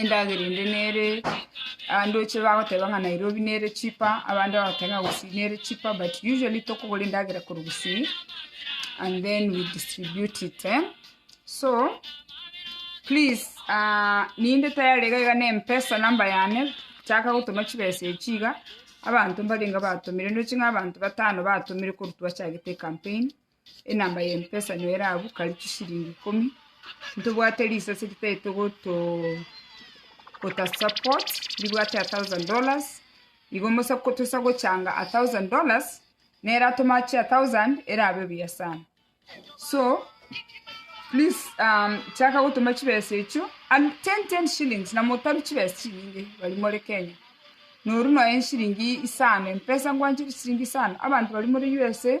endagera ende nere, abandoche bagoteba ng'a Nairobi nere cheaper, abande bagoteba ng'a Gusii nere cheaper but usually tokogora endagera korwa Gusii and then we distribute it eh. So please ninde tayari iga iga ne Mpesa number yane, chaka gotoma chibesa echi iga, abanto mbarenge batomire, ndoche ng'a abanto batano batomire korwa twachagete ecampaign, Enamba y'empesa nigo ere abwo, kari chisiringi ikomi. Ntobwate risase ritaete goto- gotasupport, ribwate a thousand dollars. Igo mbosa ko- tosa gochanga a thousand dollars, nere atome achie a thousand, erabe buya sana. So, please um, chaka gotoma chibesa echio, and ten ten shillings, na motaru chibesa chinyinge baria more Kenya. Noru nonya nsiringi isano, empesa ngwanchete chisiringi isano, abanto baria more USA.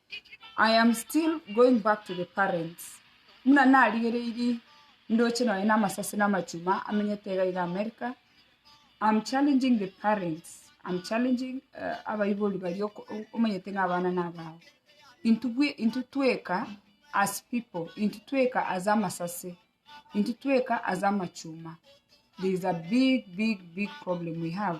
I am still going back to the parents buna narigereiri ndoche nonye na amasasi na amachuma amenyete iga iga America, I'm challenging the parents, I'm challenging abaibori baria omanyete ng'a abana nabao. Intwe bwe intwe tweka as people, intwe tweka as amasase, intwe tweka as amachuma, there is a big big big problem we have.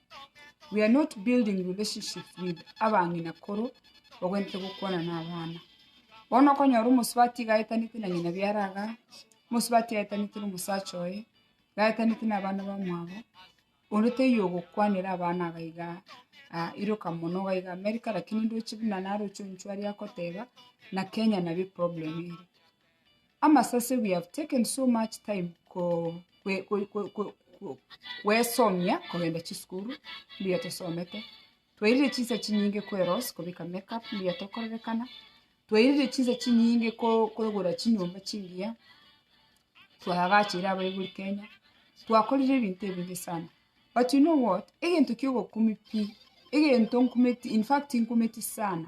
We are not building relationship with abang'ina koro ogwenerete gokwana na abana. Bono okonyora omosubati iga aetanete na ng'ina biara iga, omosubati aetanete na omosacha oye, iga aetanete na abana bamwabo, onde taiyo ogokwanera abana iga iga ah iroka mono iga iga America, lakini ndoche buna naro ochie onchware agoteba, na Kenya nabo eproblem ere. amasase we have taken so much time ko kwe- kwe- kwe- kwe- kwe- kwesomia kogenda chisukuru mbuya tosomete twairire chinsa chinyinge kweros kobika makeup mbuya tokorerekana twairire chinsa chinyinge ko- kogora chinyomba chingiya twaagachire abaibori kenya twakorire ebinto ebinge sana but you know what egento kiogokumi pi egento nkumeti infact nkumeti sana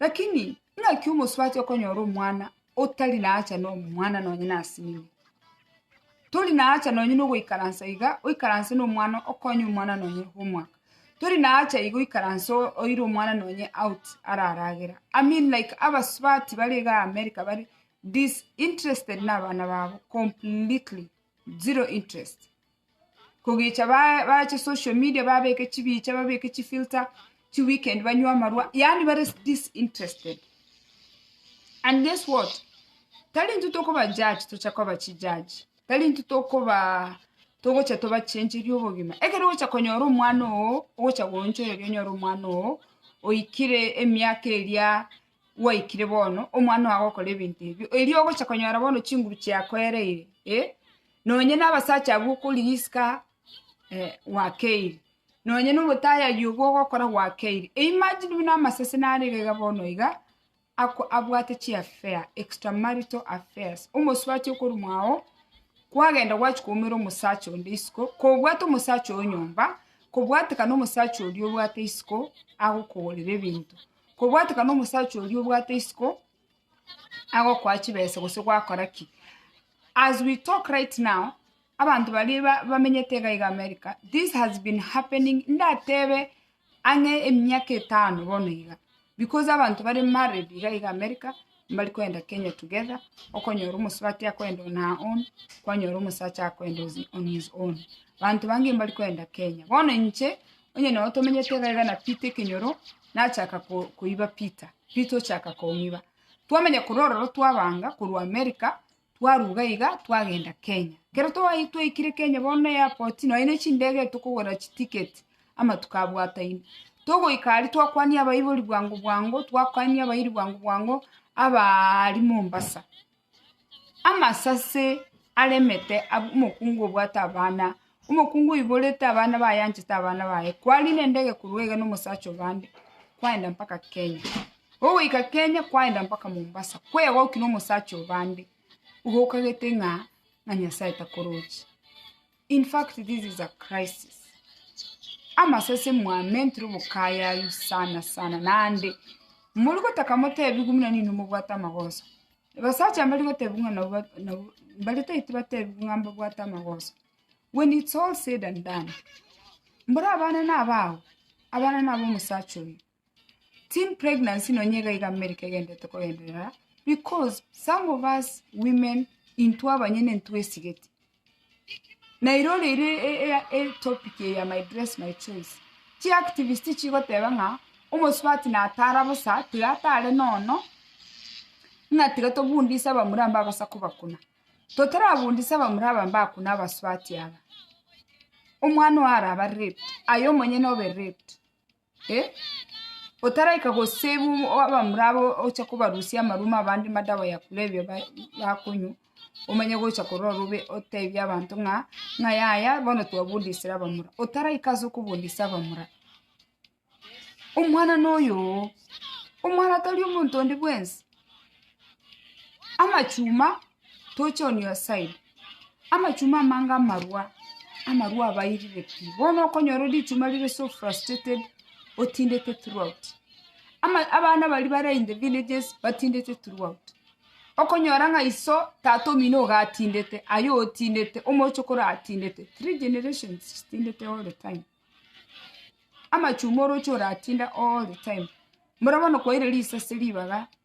Lakini naki omosubati okonyora omwana otari naacha nomwana nonye nasinigwe? Tori naacha nonye nogoikaransa iga oikaranse nomwana okonye omwana nonye homework. Tori naacha iga oikaranse oire omwana nonye out araragera. I mean like abasubati bare iga America bare disinterested nabana babo completely, zero interest. kogecha bache social media babeke chibicha babeke chifilter chi weekend banywe amarwa yaani bare disinterested and guess what tari intwe tokoba judge tocha koba chi judge tari intwe tokoba togocha tobachencheria obogima ekero ogocha konyora omwana oo ogocha goonchoreria onyore omwana oo oikire emiaka eria. gwaikire bono, omwana ogo agokora ebinto ebio, erio ogocha konyora bono chinguru chiakoereire, eh, nonye na abasacha abwo okorigia isiko eh, gwakeire, nonye na omotayari obo ogokora gwakeire. Imagine buna amasese nare iga iga bono iga, ako- abwate chi affair, extra marital affairs, omosubati okorumwa agho, kwagenda gwachi koumera omosacha onde isiko, kobwate omosacha oo nyomba, kobwatekana omosacha oria obwate isiko, agokogorera ebinto. Kobwatekana omosacha oria obwate isiko agokoa chibesa gose gwakora ki? As we talk right now, abanto baria ba- bamenyete iga iga America, this has been happening ndatebe ang'e emiaka etano bono iga, because abanto bare married iga iga America, mbari koenda Kenya together, okonyora omosubati akoenda on her own, kwanyora omosacha akoenda on his own. Banto bange mbari koenda Kenya. Bono inche, Onye nao tomenyete egaiga na Peter ekenyoro, nachaka koiba Peter, Peter ochaka kong'iba. Twamanya korwa ororo twabanga korwa America, twaruga iga twagenda Kenya. Kero twayi- twaikire Kenya bono na airport, nonye ne chindege tokogora chiticket, amatuko abwataine. Togoika aria twakwania abaibori bwango bwango, twakwania abairi bwango bwango, abaaaria Mombasa. Amasase aremete ab- omokungu obwate abana, omokungu oiborete abana baye anchete abana baye, kwarina endege korwa iga na omosacha obande, kwaenda mpaka Kenya. Ogoika Kenya, kwaenda mpaka Mombasa, kwegokia na omosacha obande, igo okagete ng'a ng'a Nyasaye takoroche. In fact this is a crisis. Amasase mwamentire obokayayu sana sana nande muri gotaka motebigwe muna nino mobwate amagoso. Basacha mbari gotebigwe ng'a nabo ba- nabo- mbari taiti batebigwe ng'a mbabwate amagoso. When it's all said and done, mbore abana nabao, abana nabo omosacha oyo. Teen pregnancy nonye iga iga america egenderete kogenderera because some of us women intwe abanyene ntwesigeti na ere ore ere ere topic eye ya my dress my choice chi activist chigoteba ng'a omosubati natara bosa tiga atare nono ng'a tiga tobundise abamura mbagosa kobakuna totarabundisa abamura aba mbakuna abasubati aba omwana oyo arabe raped aye omonyene obe raped. Eh, otaraika gosibwa obo- abamura abo ocha kobarusia amaruma abande madawa ya kulevya ba- bakonywa, omanye gocha korora robe otebie abanto ng'a ng'a yaya bono twabudisire abamura. Otaraika ase okobudisa abamura, omwana noyo oo, omwana tari omonto onde bwensi, amachuma Toche on your side. Amachuma amange amarwa, amarwa abairire pi. Bono okonyora ore richuma rire so frustrated, otindete throughout. Ama, abana bari bare in the villages, batindete throughout. Okonyora ng'a iso, tata omino iga atindete, aye otindete, omochokoro atindete. Three generations chitindete all the time. Amachuma oroche oratinda all the time. Mora bono kwaire risase ribaga,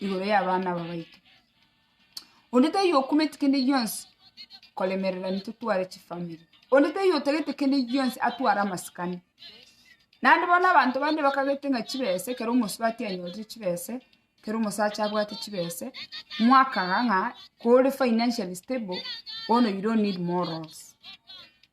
igoro y'abana aba baito. Onde taiyo okumeti kende gionsi koremerera intwe tware chifamiri. Onde taiyo otagete kende gionsi atware amasikani. Naende bono abanto bande bakagete ng'a chibesa ekero omosubati anyorire chibesa, ekero omosacha abwate chibesa, mwakaga ng'a kore financially stable, bono you don't need morals.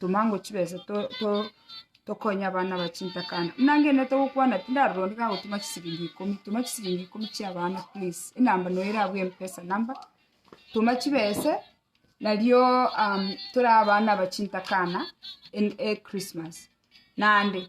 Toma ngwo chibesa tokonye abana aba chintakana. Buna inche nete gokwana tindari rondi kagotuma chisiringi ikomi. Toma chisiringi ikomi chia abana please. Enamba noyo erabwo mpesa number. Toma chibesa nario torae abana aba chintakana Christmas. Naende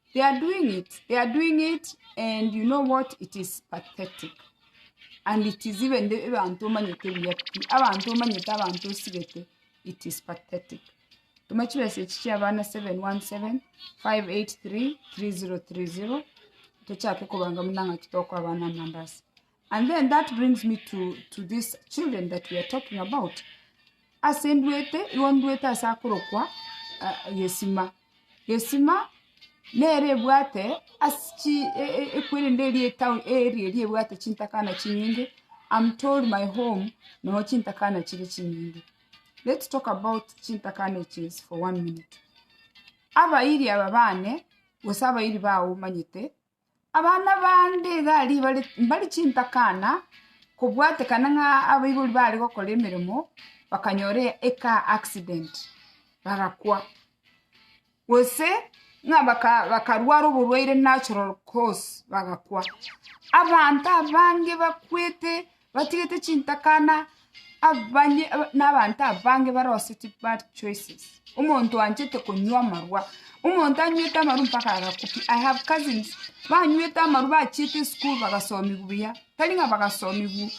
They are doing it. They are doing it, and you know what? It is pathetic. And it is even the abantu omanyete buya pi. Abantu omanyete abantu osigete. It is pathetic. Tuma chimessage chia bana 717 583 3030 tochake kobanga munang'aki toko abana amandasi. And then that brings me to, to these children that we are talking about. Ase ndwete, igo ndwete ase akorokwa ah, gesima. Gesima nere ebwate ase chi e- e- ekwerende eri etown eri eri ebwate chintakana chinyinge. I'm told my home nogo chintakana chiri chinyinge. Let's talk about chintakana eches for one minute. Abairi aba bane, gose abairi bao omanyete, Abana bande iga aria bare mbare chintakana, kobwatekana ng'a abaibori bare gokora emeremo, bakanyora ecar accident, bagakwa. Gose ng'a baka bakarwara oborwaire natural cause, bagakwa. Abanto abange bakwete. Batigete chintakana abanye nabanto abange barosetwe bad choices omonto oanchete konywa amarwa omonto anywete amarwa mpaka agakupia i have cousins banywete amarwa bachiete esukuru bagasomiwa buya tari ng'a bagasomiwa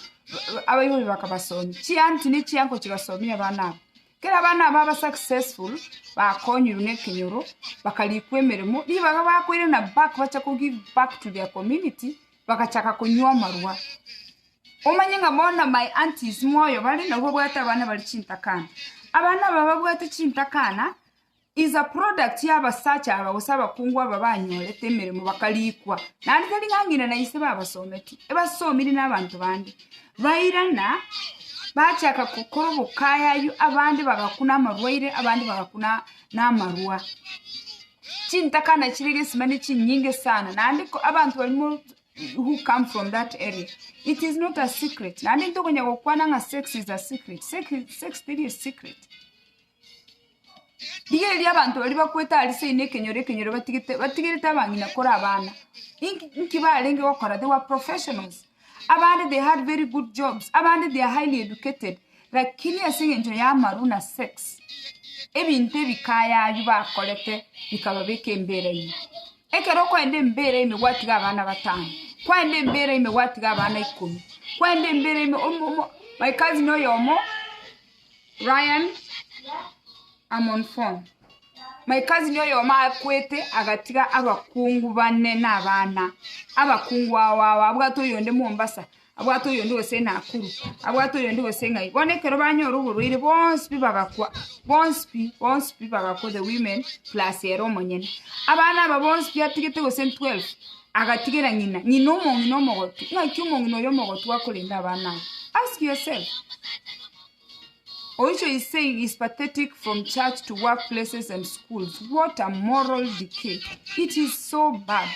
abaibori bakabasomia chianti ne chianko chigasomia abana aba kera abana aba ba successful bakonyiwa ne ekenyoro bakarikwa emeremo ribaga bakoirana back bache ko give back to their community bagachaka konywa amarwa. Omanye ng'a bono my aunties moyo bare nabo babwate abana bare chintakana. Abana aba babwate chintakana is a product ya abasacha aba gose abakungu aba banyorete emeremo bakarikwa. Naende tari ng'a ng'ina na ise babasometi, ebasomiri na abanto bande. Bairana bachaka gokora obokayayu abande bagakuna amarwaire abande bagakuna na amarwa. chintaka nachire gesimani chinyinge sana naende abanto barimo who come from that area it is not a secret naende ntokonya gokwana ng'a sex is a secret sex teri a secret rigereria abanto baria bakwete aria seino ekenyoro ekenyoro batigete batigerete abang'ina kore abana inki inki barenge gokora they were professionals Abande they had very good jobs, abande they are highly educated, lakini ase engencho y'amaru na sex, ebinto ebikaya abio bakorete bikababeka embera ime. Ekero okoenda embera ime gwatiga abana batano, kwaenda embera ime gwatiga abana ikomi, kwaenda embera ime omo omo my cousin oyomo Ryan Amonfon, My cousin oyomo akwete agatiga abakungu bane na abana. Abakungu ao ao abwate oyonde Mombasa, abwate oyonde gose Nakuru, abwate oyonde gose ng'ai. Bono ekero banyora oborwaire bonsi pi bagakwa, bonsi pi, bonsi pi bagakwa the women plus ere omonyene. Abana aba bonsi pi atigete gose 12, Agatigera ng'ina, ng'ina omong'ina omogotu. Naki omong'ina oyo omogotu akorenda abana abo. Ask yourself, Oicho is saying is pathetic from church to work places and schools. What a moral decay. It is so bad.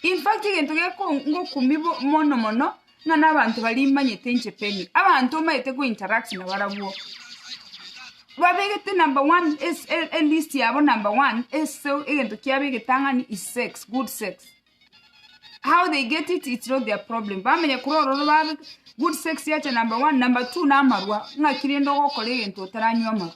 In fact, egento gekongokumia bo- mono mono Ng'a nabanto baria imanyete inche Penny, abanto omanyete ko interact nabarabwo, babegete number one ase elist yabo number one ase egento kiabegete ang'e ni is sex, good sex. How they get it it's not their problem, bamenya korwa ororo babe good sex yacha number one, number two namarwa, ng'aki rende ogokora egento otaranywa amarwa.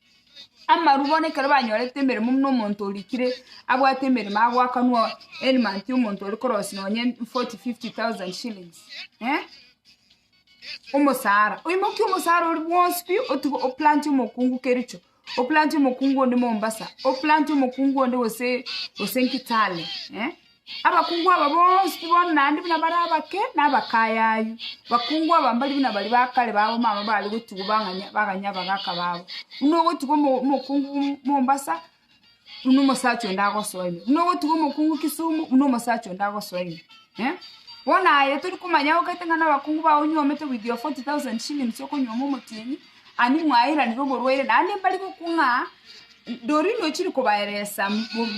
Amarwa bono ekero banyorete emeremo buna omonto orikire abwate emeremo agoakanwa any month omonto ore korosia nonye forty, fifty thousand shillings eh, omosara. Oimokie omosara oria bwonsi pi otiga oplanti omokungu Kericho, oplanti omokungu onde Mombasa, oplanti omokungu onde gose gose nki Kitale eh. Abakungu aba bonsi bono naende buna bare abake na abakayayu, bakungu aba mbari buna baria ba kare b'abamama baare gotigwa bang'anya baganya abagaka babo. Buna ogotigwa omo- omokungu Mombasa, buna omosacha onde agosoa ime, buna ogotigwa omokungu Kisumu, buna omosacha onde agosoa ime. Bono aye tori komanya agokaete ng'a na abakungu bao onyuomete with your 40,000 shillings okonyuoma omotienyi, Ani mwaeranire omorwaire naende mbari gokwa ng'a Ndori nochiri kobaeresa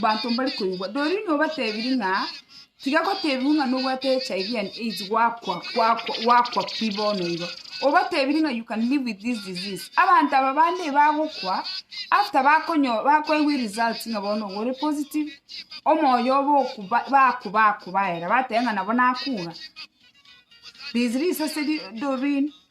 banto mbari koigwa. Ndori nobatebirie ng'a tiga gotebiwa ng'a nobwate HIV and AIDS gwakwa gwakwa gwakwa pi bono igo. Obatebirie ng'a you can live with this disease. Abanto aba bande bagokwa after bakonyo bakoigwa eresults ng'a bono igo ore positive, omoyo obo oku baku bakubaera bateba ng'a nabo nakure. Risease ase ri Doreen.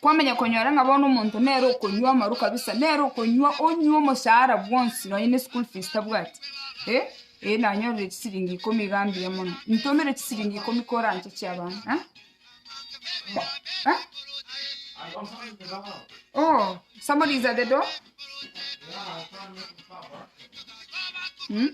Kwamanya konyora ng'a bono omonto nere okonywa amaru kabisa, nere okonywa onywe omosaara bwonsi nonye ne school fees tabwati, eh, eh nanyorire chisiringi ikomi iga mbuya mono, intomere chisiringi ikomi kore anche chia abana eh? Eh? Oh, somebody is at the door? Mm?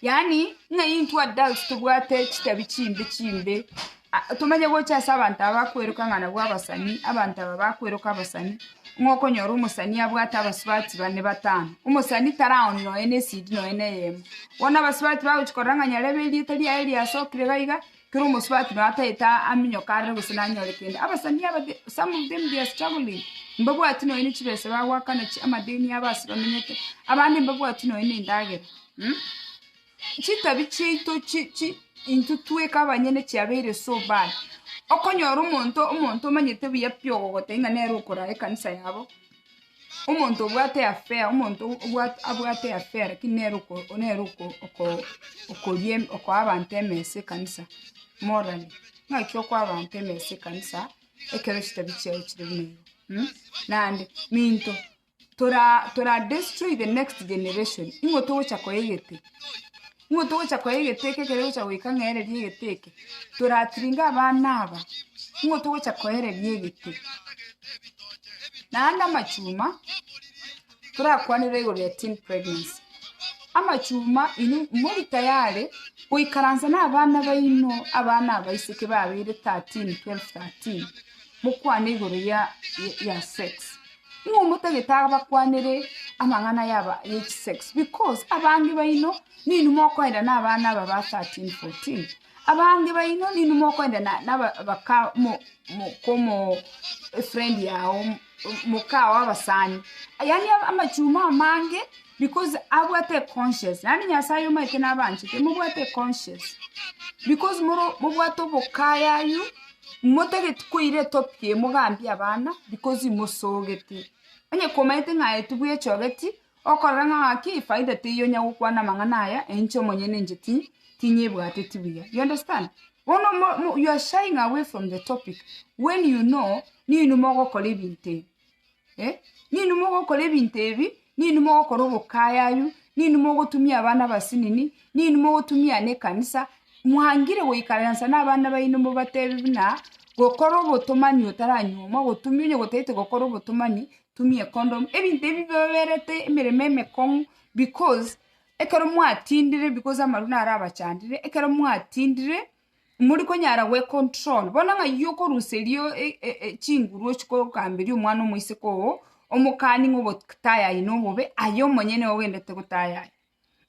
yaani ng'a intwe adults tobwate chitabi chimbe chimbe Ah, tomanye gocha ase abanto aba bakweroka ng'a nabwo abasani abanto aba bakweroka abasani ng'a okonyora omosani abwate abasubati bane batano omosani taraoni nonya na esidi nonya na eyemo bono abasubati bagochi korora ng'a nyarebe erieta riaye riasokire gaiga kera omosubati nonya tagete aminyoke aroro gose nanyore kende. Abasani aba the- some of them they are struggling. Mbabwati nonya ne chibesa bagoakana chi- amadeni abo ase bamenyete. Abande mbabwati nonya ne endagera. Mh? Chitabi chiaito chi- chi intwe tweka abanyene chiabeire so bad. Okonyora omonto omonto omanyete buya pi ogogotebia ng'a nere okorara ekanisa yabo. Omonto obwate afea, omonto obwate abwate afea lakini nere oko nere oko oko okoria em okoa abanto emesa ekanisa, morally. Naki okoa abanto emesa ekanisa, ekero chitabi chiaye chire buna igo mh, naende minto tora tora destroy the next generation, ing'o togocha koegete. Nigo togocha koea egeteke ekere gocha goika ng'ereria egeteke. Toratiringe abana aba, nigo togocha koereria egete. Naende amachuma, torakwanere igoro ya teen pregnancy. Amachuma inwe mori tayari goikaransa na abana baino, abana abaiseke babeire thirteen, twelve thirteen, mokwane igoro ya ya sex. Nigo omotagete abakwanere amang'ana yaba ye chisex because abange baino ninu mokoenda na abana aba ba 13, 14. Abange baino ninu mokoenda na na aba baka mo mo komo friend yao moka o abasani. Yaani amachuma amange Because abwate econscience, yaani Nyasaye omaete nabanchete, mobwate econscience. Because moro mobwate obokayayu, motageti koira etopic eye mogambie abana, because imosogete. Onye komaete ng'a aye tibwechogeti, okorora ng'a gaki efaida teiyo onya gokwana amang'ana aya, enche omonyene inche ti- tinyebwateti buya. You understand? Bono mo- mo you are shying away from the topic, when you know, ninwe mogokora ebinto ebi. Ninwe mogokora ebinto ebi, ninwe mogokora obokayayu, ninwe mogotumia abana abasinini, ninwe mogotumia aane ekanisa, mwangire goikaransa nabana baino mobatebe buna, gokora obotomani otaranyuomwa, gotumia onye gotaete gokora obotomani, tumia econdomu, ebinto ebi bibaberete emeremo emekong'u because ekero mwatindire because amarwa naro abachandire, ekero mwatindire. Mori konyara gwe control bono ng'ai okorusa erio chinguru ochie kogamberia omwana omoiseke oo omokani ng'a obotaya aye nobobe aye omonyene ogendete gotaya aye.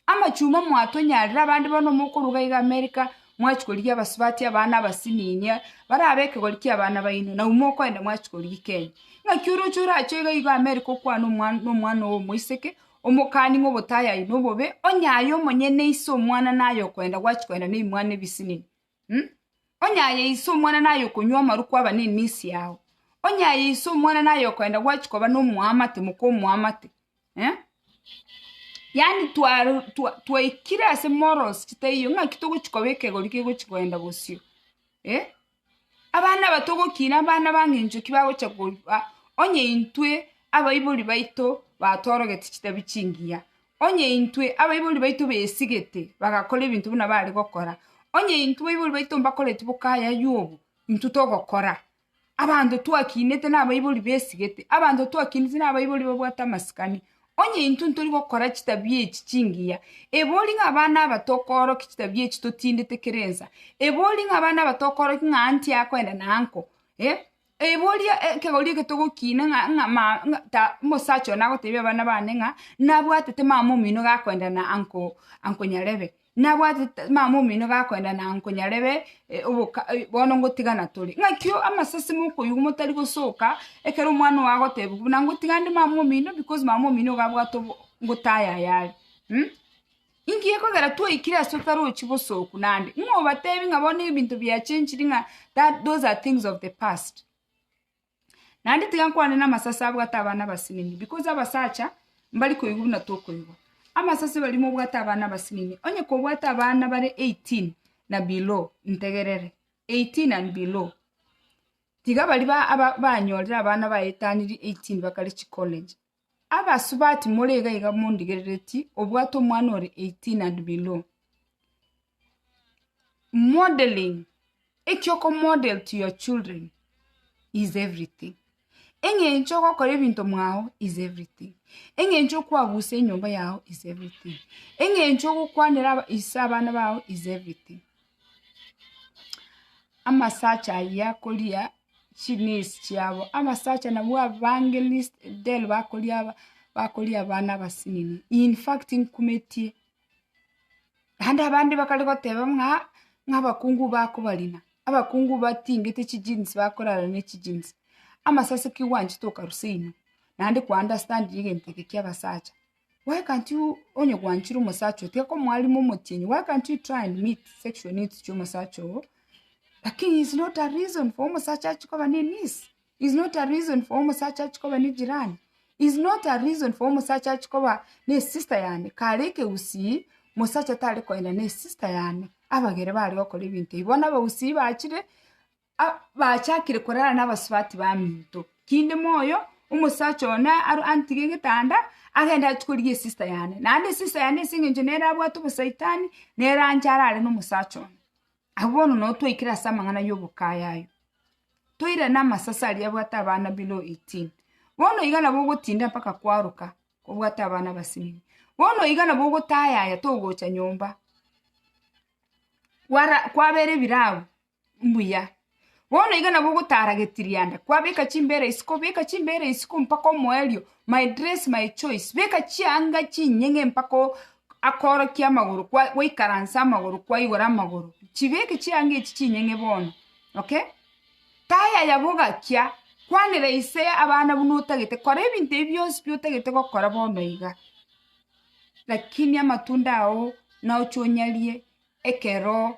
Amachuma mwatonyarire abande bono mokoruga iga America mwachia korigia abasubati abana abasininia barabe ekegori kia abana baino nabo mokoenda mwachia korigia Kenya. Ng'aki oroche orache iga iga America okwane omwana oyo omoiseke Omokani ng'obotayayi nobobe, onye aye omonyene ise omwana naye okoenda gwachia koenda nebimwana ebisinini, hm? Onye aye ise omwana naye okonywa amaru kwaba nenisi yao, onye aye ise omwana naye okoenda gwachia koba nomoamate moka omoamate, eh? Yaani twa twa twaikire ase morals chitaiyo ng'aki togochia koba ekegori kegochia koenda bosio, eh? Abana abato gokina abana bang'encho ki bagocha koigwa, onye intwe abaibori baito batoorogeti chitabia chingiya, onye intwe abaibori baito besigete bagakora ebinto buna bare gokora, onye intwe abaibori baito mbakoreti boka ayaywo obo, intwe togokora. Abanto twakinete nabaibori besigete, abanto twakinete nabaibori babwate amasikani, Onye intwe ntori gokora chitabia echi chingiya, ebori ng'a abana aba tokoorokia chitabia echi totindete kera ensa? Ebori ng'a abana aba tokoorokia ng'a aa ntiakoenda na aa nko? Eh, ebori ekegori eke togokiina ng'a ng'a ma ng'a ta omosacha oyo nagoteebia abana bane ng'a nabwatete mama omino gakoenda na anko anko Nyarebe. Nabwate mama omino gakoenda na nkonyarebe oboka bono ngotiga na tore. Ng'aki amasasi mokoigwa motari gosoka ekero omwana ogo agoteba buna ngotiga ande mama omino because mama omino iga abwate obo ngotaya aye are. Inki gekogera twaikire ase otarochi bosoku nande? Ng'o obatebi ng'a bono ebinto bia changed ng'a those are things of the past. Naende tiga nkwane namasase abwate abana abasinini, because abasacha mbari koigwa buna tokoigwa. Amasase barimo obwate abana abasinini, onye kobwate abana bare eighteen na below, ntegerere, eighteen and below, tiga baria ba- ba- banyorire abana baetaniri eighteen bakare chicollege. Abasubati more iga iga mondigerereti obwate omwana ore 18 and below. Modeling, eki oko model to your children is everything. Eng'encho ogokora ebinto mwao is everything. Eng'encho okwagusa enyomba yao is everything. Eng'encho ogokwanera aba- ise abana bao is everything. amasacha ayio akoria chinesi chiabo, amasacha nabwo abange least del bakoria aba bakoria abana abasinini in fact nkumetie, naende abande bakare goteba ng'a ng'a abakungu bakobarina, abakungu batingete chi jeans bakorara ne chi jeans, amasasi ki gwanchete okarusia inwe, naende kwa understand egento eke kia abasacha. Why can't you onye gwanchire omosacha oo tiga omwalimu omotienyi why can't you try and meet sexual needs chia omosacha oo lakini is not a reason for omosacha achi koba ne niece is not a reason for omosacha achi koba ne jirani is not a reason for omosacha achi koba ne sister yane kare ekegusii mosacha tari koenda ne sister yane abagere bare gokora ebinto ebi bono abagusii bachire. a- bachakire korara nabasubati baminto, kinde moyo omosacha one aro antige egetanda, agende achi korigia esista yane, naende esista yane ase eng'encho nere abwate obosaitani, nere ancha arare nomosacha one. Abwo bono nabo twaikire ase amang'ana yobokaya ayo, toirane amasase aria abwate abana below eighteen, bono iga nabo ogotinda mpaka kwaroka obwate abana abasinyi, bono iga nabo ogotayaya togocha nyomba, kwara kwabera ebirabu, Mbuya. Bono iga nabo ogotara getirianda, kwabeka chimbera isiko, beka chimbera isiko mpaka omoerio, my dress my choice, beka chianga chinyeng'e mpaka o- akorokie amagoro kwa- gwaikaransa amagoro kwaigora amagoro, chibeke chianga echi chinyeng'e bono, okay? Tayaya bogakia, kwanera ise abana buna otagete, kora ebinto ebi bionsi pi otagete gokora bono iga, lakini amatunda ao naochia onyarie ekero.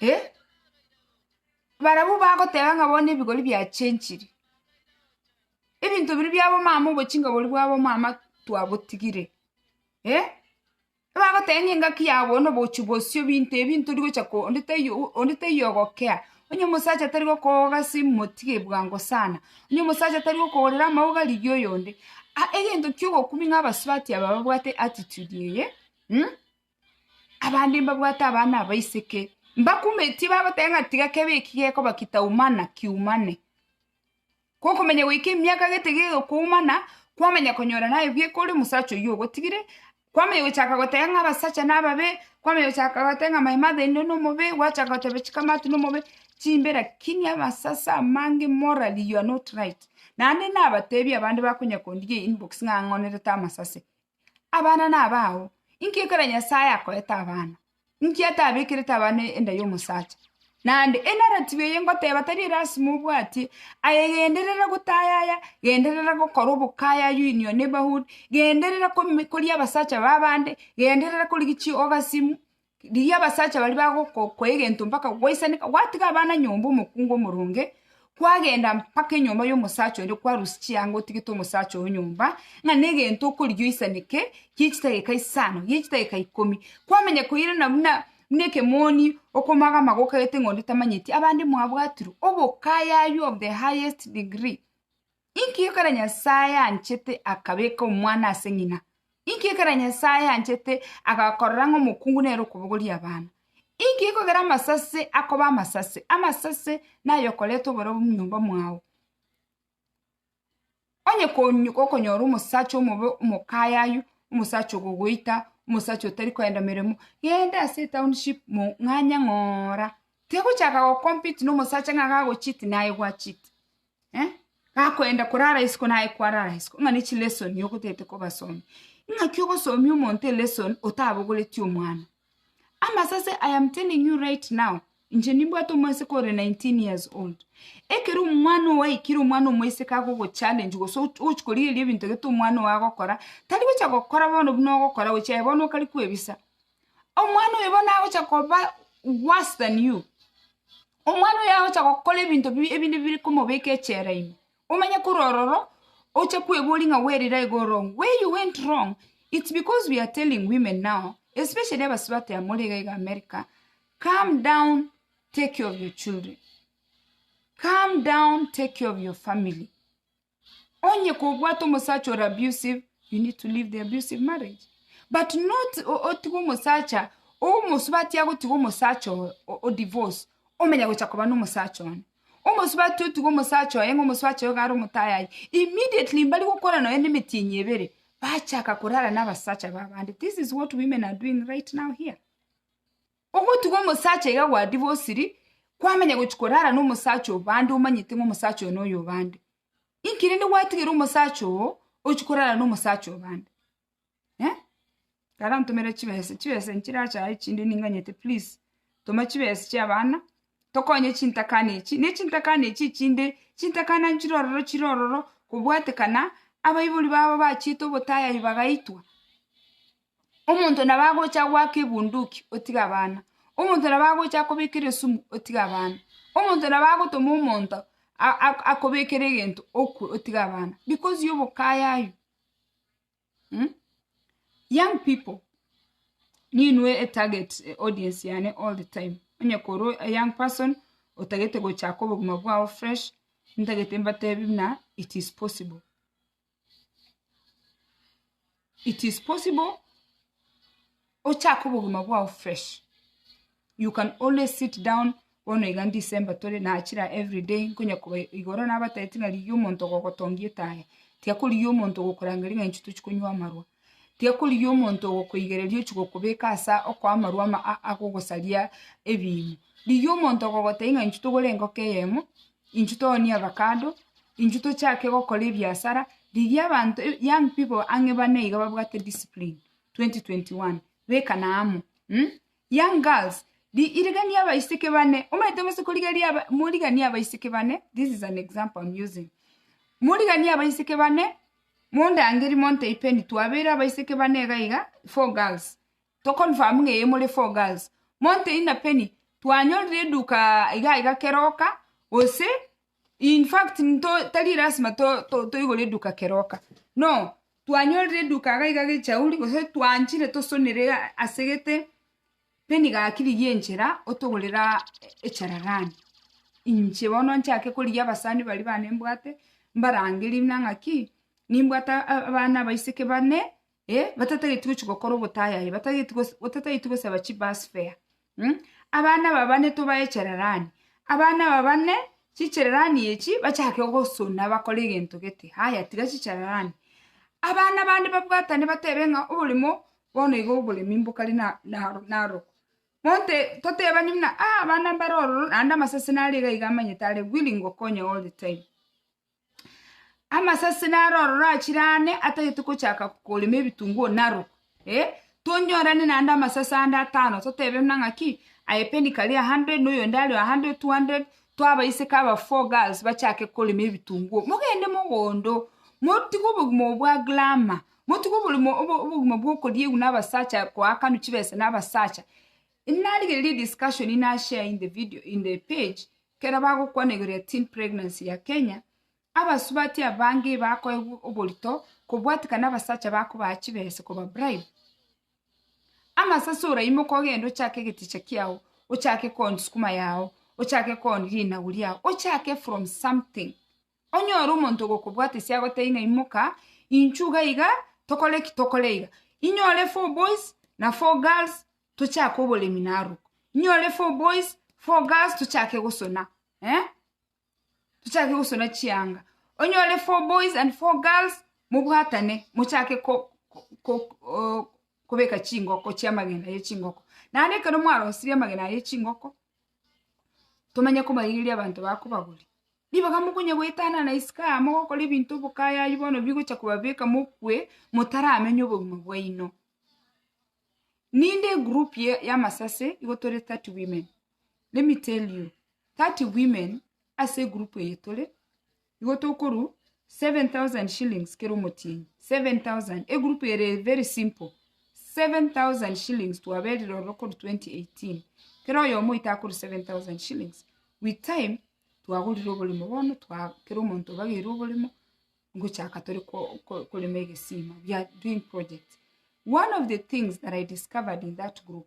Eh, barabwo bagoteba ng'a bono ebigori biachenchire, ebinto biria biabomama obochinka boria bwa bomama twabotigire, eh, ebagoteba ng'a engaki yao bono obochi bosio binto ebi ntori gocha ko onde taiyo o onde taiyo ogokea, onye omosacha tari gokooga ase emotige bwango sana, onye omosacha tari gokogorera amauga rigia oyonde, aa egento kia ogokumia ng'a abasubati aba babwate attitude eye mh. Abande mbabwate abana abaiseke, mbakumetie babatebe ng'a tiga kebe eki gekoba kitaumana, kiumane. Gokomenya goika emiaka gete gegokoumana, kwamanya konyora naye bieka ore omosacha oyio ogotigire, kwamanya gochaka goteba ng'a abasacha nababe, kwamanya gochaka goteba ng'a my mother in law nomobe, gwachaka goteba chikamati nomobe, chimbe lakini amasase amange morally you are not right. Naende nabatebi abande bakonya kondigia inbox ng'a ang'onerete amasase, Abana nabao. Inki ekero Nyasae akoete abana? Inki atabekerete abana enda y'omosacha? Naende enaratibu eye ngoteba tari elasima obwatie, aye genderera gotayaya, genderera gokora obokayayu in your neighborhood, genderera komi koria abasacha ba abande, genderera korigia chioga simu, Rigia abasacha baria bagokokwa egento mpaka gwaisaneka, gwatiga abana nyomba omokungu omoronge, kwagenda mpaka enyomba y'omosacha onde kwarusia chianga otigete omosacha oo nyomba, ng'a negento okorigia oisaneke gie chidageka isano, gie chidageka ikomi. Kwamenya koirana buna buna ekemoni okomoaga amago okagete ng'a onde tamanyeti, abande mwabwatirwe obokayayu of the highest degree. Inki ekero Nyasae anchete akabeka omwana ase ng'ina? Inki ekero Nyasae anchete agakorora ng'a omokungu nere okobogoria abana? Inki ekogera amasase akoba amasase? Amasase nayokoreta oborabu mnyomba mwao. Onye konyu gokonyora omosacha omobe omokayayu, omosacha ogogoita, omosacha otari koenda meremo, genda ase etownship mong'anye ng'oora. Tegochaka gocompete nomosacha ng'a gagocheat naye gwacheat. gakoenda korara isiko naye kwarara isiko, ng'a ne chilesoni ogotete kobasomia. Ing'aki ogosomia omonto elesoni otabogoreti omwana. Amasase I am telling you right now, inche nimbwate omoiseke ore nineteen years old, ekero omwana ogo aikire omwana omoiseke agogo challenge gose ogochi korigereria ebinto egete omwana ogo agokora, tari gocha gokora bono buna ogokora gochia aye bono okare kwebisa. Omwana oyo bono agocha koba worse than you, omwana oyo agocha gokora ebinto bi ebinde bire komobeka echela ime, omanye korwa ororo oche kweboria ng'a bwerire iga ore oo. Where you went wrong, it's because we are telling women now, especially abasubati abamore iga iga America, calm down, take care of your children, calm down, take care of your family. Onye kobwate omosacha ore abusive, you need to leave the abusive marriage. But not o- otige omosacha, omosubati agotiga omosacha oyo, o- o divorce, omenya gocha koba na omosacha one. Omosubati otiga omosacha oye ng'a omosacha oye iga are omotayayi, immediately mbari gokora nonya na emetienyi ebere, bachaka korara na abasacha ba abande. This is what women are doing right now here. Ogotuga omosacha iga gwa dibosiri, kwamanya gochia korara nomosacha oo bande omanyete ng'a omosacha oyo noyo obande. Inki rende gwatigera omosacha oo ochia korara nomosacha obande? Eh? Kare ntomere chibesa, chibesa nchirache aye chinde ninganyete please toma chibesa chia abana tokonye chintakana echi, ne chintakana echi chinde, chintakana nchire ororo chire ororo kobwatekana abaibori babo bachiete obotayayi bagaitwa. Omonto nabo agocha goaka ebunduki, otige abana. Omonto nabo agocha kobekera esumu, otige abana. Omonto nabo agotoma omonto akobekere egento okwe, otige abana because ya obokayayu. Young pipo, ninwe etarget audience yane all the time, onye koro a young person otagete gochaka obogima bwao fresh, ntagete mbatebi buna it is possible. it is possible ochake obogima bwao fresh you can always sit down bono iga December tore nachira every day nkonya koba igoro nabatebitie ng'a rigia omonto ogogotongia etae tiga korigia omonto ogokorangeria ng'a inche tochi konywa amarwa tiga korigia omonto ogokoigereria ochi gokobeka asa okoa amarwa ama agogosaria ebiimo rigia omonto ogogotebia ng'a inche togore engoko eyemo. inchuo tooni avakado, inchuo tochake gokora ebiasara, rigia abanto young people ang'e bane iga babwate discipline 2021 bekana amo mh, young girls ri- irigania abaiseke bane, omanyete gose korigeria aba moriganie abaiseke bane, this is an example I'm using, moriganie abaiseke bane, mondangerie monto ipeni twabere abaiseke bane iga iga four girls, To confirm ng'a eye more four girls. Monto ina Penny, twanyorire eduka iga iga keroka, gose in fact nto tari lasima to to toigore eduka keroka. No, twanyorire eduka iga iga gechauri, gose twanchire tosonere iga ase gete, Penny gakirigia enchera otogorera echararani. Inche bono nchake korigia abasani baria bane mbwate, mbarangerie buna ng'a ki, nimbwate abana abaiseke bane, eh, batatageti gochi gokora obotayayi, batageti gos- otatageti gosaba chibus fare mm? abana babane tobae cherarani, abana babane chichererani echi bachake gosuna bakore egento gete, haya tiga chichererani. Abana bande babwatane batebe ng'a oboremo bono iga oboremi mbokare na- naro narokwa. Monte totebani buna ah abana mbare ororo naende amasese nare iga iga amanyete are willing gokonya all the time. Amasase naro ororo achire aane atagete gochaka korema ebitunguo narwo, eh. Tonyorane naende amasase ande atano totebe buna ng'aki, aye penny kare a hundred, na oyonde are a hundred, two hundred, twaba ise kaba four girls bachake korema ebitunguo. Mogende mogondo, motige obogima obo bwa glamour, motige oborimo obo obogima bwa okoriegwa na abasacha koakanwa chibesa na abasacha. Narigereria ediscussion nashare in the video in the page, Ekero bagokwana igoro ya Teen Pregnancy ya Kenya, abasubati abange bakoegwa oborito kobwatikana abasacha bakobaa chibesa koba bribe. Ama sase ora imoka ogende ochake egeticha kiao, ochake kooni sukuma yao, ochake kooni rinagu riao, ochake from something Onye ore omonto ogokobwatesia agotebie ng'a imoka, inchuo iga iga, tokore ki? Tokore iga. Inyore four boys na four girls tochake oboremi narogo. Inyore four boys, four girls tochake gosona eh, tochake gosona chianga. Onyore four boys and four girls mobwatane mochake ko- ko- ko- o- kobeka chingoko chiamagena ye chingoko. Naende ekero mwarosirie amagena aye ye chingoko, tomanye kobaigeria abanto bakobagoria. Ribaga mokonya goetana na isiko aa mogokora ebinto obokayayi bono bigocha kobabeka mokwe motaramenya obogima bwaino. Ninde egroup ye y'amasase igo tore thirty women, let me tell you thirty women ase egroup eye tore, Igo tokoru 7000 shillings kera omotienyi 7000 egroup ere very simple 7000 shillings twaberire ororo korwa 2018 kera oyomo oito akoru 7000 shillings with time twagorire oboremo bono twa kera omonto obageire oboremo ngochaka tore ko- ko- korema egesima we are doing project one of the things that I discovered in that group.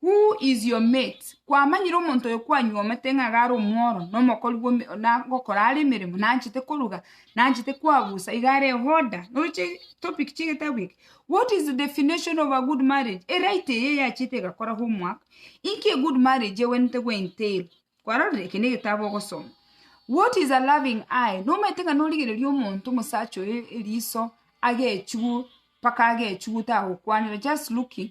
Who is your mate? Kwamanyire omonto oyo kwanyuomete ng'a iga are omworo, na omokori bw'ome, na gokora are emeremo, na anchete koruga, na anchete koagusa, iga are ehoda. Noroche topic chi'egetabu eke? What is the definition of a good marriage? Eright eye yachiete egakora homework, inki a good marriage egwenerete goentail? Kwarorire? Eke negetabu ogosoma. What is a loving eye? Nomaete ng'a norigereria omonto, omosacha oyo, eriso, agechigwe, mpaka agechigwe, tagokwanera, just looking.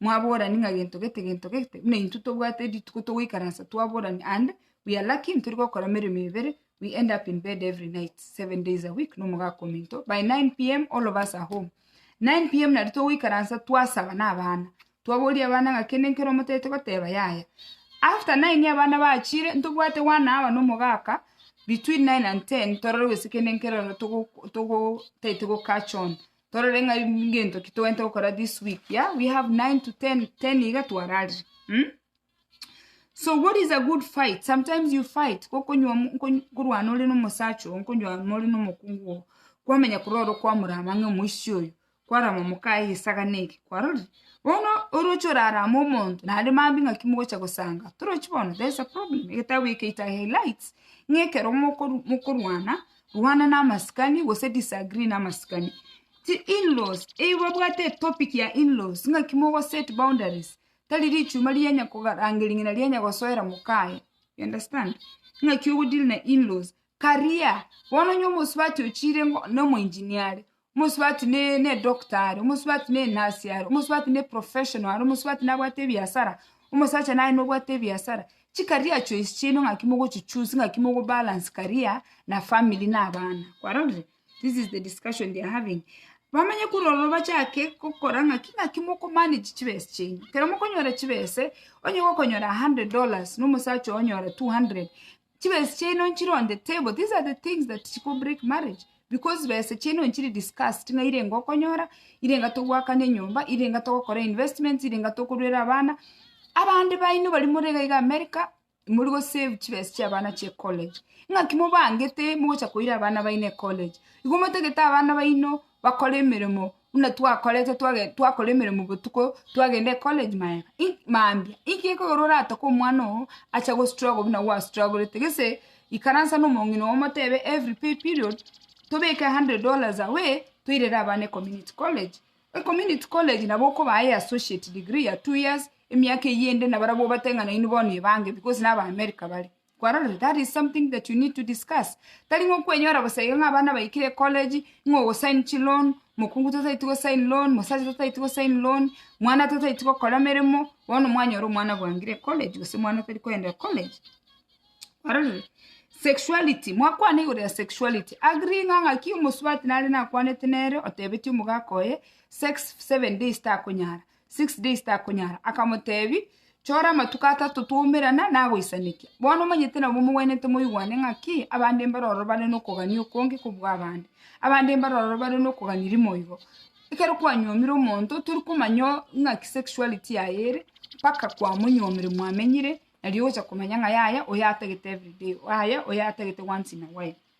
mwaborani ng'a gento gete, gento gete, buna intwe tobwate rituko togoikaransa twaborani and we are lucky ntori gokora emeremo ebere, we end up in bed every night, seven days a week, na omogaka ominto, by 9pm all of us are home. 9pm nari togoikaransa twasaba na abana, twaboria abana ng'a kende nkere omotagete goteba yaya. After nine abana bachire, ntobwate one hour na omogaka, between nine and ten torore gose kende nkere ore togo togo tagete go catch on. torore ng'a ngento ki togwente gokora this week yeah we have nine to ten ten iga twararire mm? so what is a good fight sometimes you fight gokonywa mu- nkonyu- nkorwana ore nomosacha oo nkonywama ore nomokungu oo kwamenya korora okwamorama ng'a omoisia oyo kwarama mokaye esagane eke kwarorire bono oroche orarame omonto naende maambia ng'aki mogocha gosanga torochi bono there is a problem egetabu eke it highlights ng'a ekero mokoru mokorwana. Rwana namasikani gose disagree namasikani. Chi in-laws, eyio babwate etopic ya in-laws ng'aki mogo set boundaries, tari richuma rigenya korangeria ng'ina rigenya gosoera mokaye. You understand? Ng'aki ogo deal na in-laws. Career, bono onye omosubati ochire ngo nomo engineer are, Omosubati ne n'edoctor are, omosubati ne nurse are, omosubati ne professional are, omosubati nabwate ebiasara, omosacha naye nobwate ebiasara. Chikaria choice chiaino ng'aki mogochi choose ng'aki mogo balance career na family na abana. Kwarorire? This is the discussion they are having. Bamanye korora obachake gokora ng'aki ng'aki moko manage chibesa chiaino. Ekero mokonyora chibesa, onye gokonyora hundred dollars, nomosacha onyore two hundred, Chibese chiaino nchironde table. These are the things that chiko break marriage because bese chiaino nchiri discussed ng'a ire enga okonyora, ire enga togwakana enyomba, ire enga togokora investments, ire enga tokoruera abana. Abande baino baria more iga iga America, mori gosave chibese chia abana chia ecollege. Ng'aki mobangete mogocha koira abana baino ecollege? Igo motagete abana baino bakore emeremo buna twakorete twage twakora emeremo botuko, twagenda ecollege magega i mambia. Inki ekogera oratoke omwana oo, ache gostruggle buna gwastrugorete gese, ikaransa na omong'ina oo omotebe every pay period, tobeke a hundred dollars away, toirere abana ecommunity college. Ecommunity college nabo okobaa eye associate degree ya two years, emiaka eyio ende nabarabwo obate ng'a nainwe bono ebange because naba America bare. kwarorire that is something that you need to discuss tari ng'a okwenyora bosa iga ng'a abana baikire ecollege ng'a ogosign chiloan mokungu totaeti gosign loan mosacha totaeti gosign loan mwana totaeti gokora emeremo bono mwanyora omwana bwangire ecollege gose omwana tari koenda ecollege kwarorire sexuality mwakwana igoro ya sexuality agree ng'a ng'aki omosubati nare nakwanete nere otebeti omogaka oye sex seven days takonyara six days takonyara akamotebi chora amatuko atato twaumerana nagoisanekia bono omanyete nabo mogwenerete moigwane ng'aki abande mbare ororo bare nokogania okonge kobua abande abande mbare ororo bare nokogania rimo igo ekero kwanyomire omonto tori komanya o- ng'aki sexuality yaye ere mpaka kwamonyomire mwamenyire nario ogocha komanya ng'a yaya oyo atagete everyday yaya oyo atagete once in a while.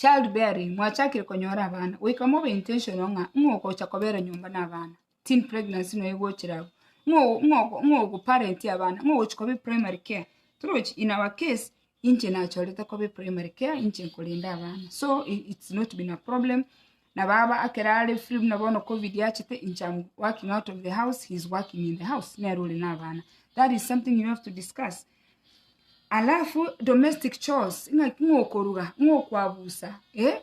Child bearing, mwachakire konyora abana, goika mobe intentional ng'a ng'o ogocha kobera nyomba na abana, teen pregnancy noyo egochire abwo, ng'o ng'o ng'o ogoparent abana, ng'o ogochia koba eprimary care, torochi in our case, inche nachorete koba eprimary care inche nkorende abana, so i- it's not been a problem. Na baba akera are free buna bono covid yachete inche am working out of the house he is working in the house nere ore na abana that is something you have to discuss alafu domestic chores ng'aki ng'okoruga ng'okwabusa eh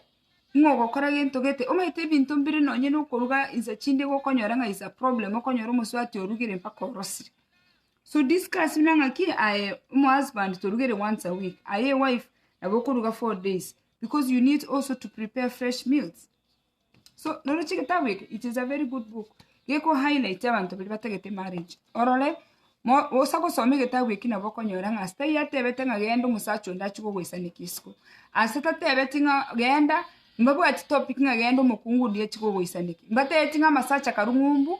ng'ogokora gento gete omanyete ebinto mbire nonye na okoruga insa chinde iga okonyora ng'a is a problem okonyora omosubati orugire mpaka orosire so discuss buna ng'aki aye omohusband torugere once a week aye ewife nabo okoruga four days because you need also to prepare fresh meals so noroche gitabu eke it is a very good book geko highlight abanto baria batagete marriage orore mo- osa gosoma egetabu eki nabo okonyora ng'a asitari atebete ng'a genda omosacha onde achie kogoisanekia isiko ase tatebeti ng'a genda mbabwati topic ng'a genda omokungu onde achie kogoisanekia mbatebeti ng'a amasacha karung'umbu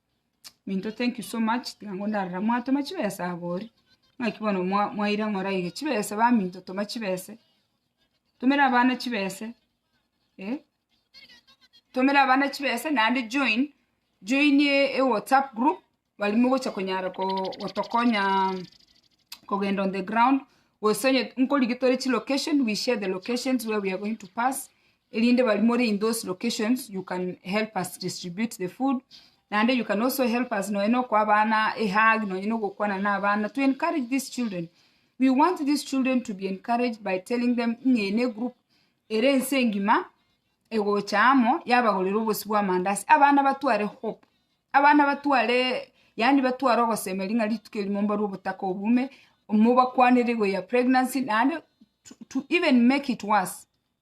Minto thank you so much tiga ngo ndarora mwatoma chibesa abori ng'aki bono mwa mwaira ng'ora iga chibesa ba minto toma chibese tumera abana chibese eh tumera abana chibese naende join join ewhatsapp group bari mogocha konyara ko gotokonya kogenda on the ground gose onye nkorigia tore chilocation we share the locations where we are going to pass erinde barimore in those locations you can help us distribute the food naende you can also help us nonye nokoa abana a hug nonye nogokwana na abana to encourage these children we want these children to be encouraged by telling them ng'a eye ne group ere ense engima egocha amo yabagorera obosio bwa amandasi abana batware hope abana batware yaani batware ogosemeria ng'a rituko erimo mbarwe obotaka obume mobakwanere igoro ya pregnancy naende to even make it worse.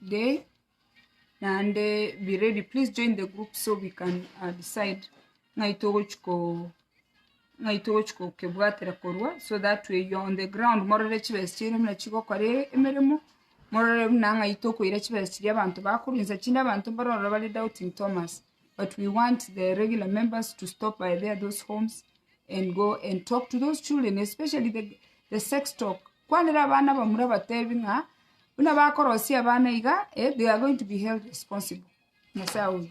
day naende be ready please join the group so we can decide ng'ai togochia ko ng'ai togochia kokebwatera korwa so that way you are on the ground morore chibesa chiaino buna chigokora emeremo morore buna ng'ai tokoira chibesa chiria abanto bakorwa insa chinde abanto mbaro ororo bare doubting Thomas but we want the regular members to stop by there those homes and go and talk to those children especially the the sex talk Kwanera abana bamura batebi ng'a buna bakorosia abana iga, they are going to be held responsible. Nyasae oyo.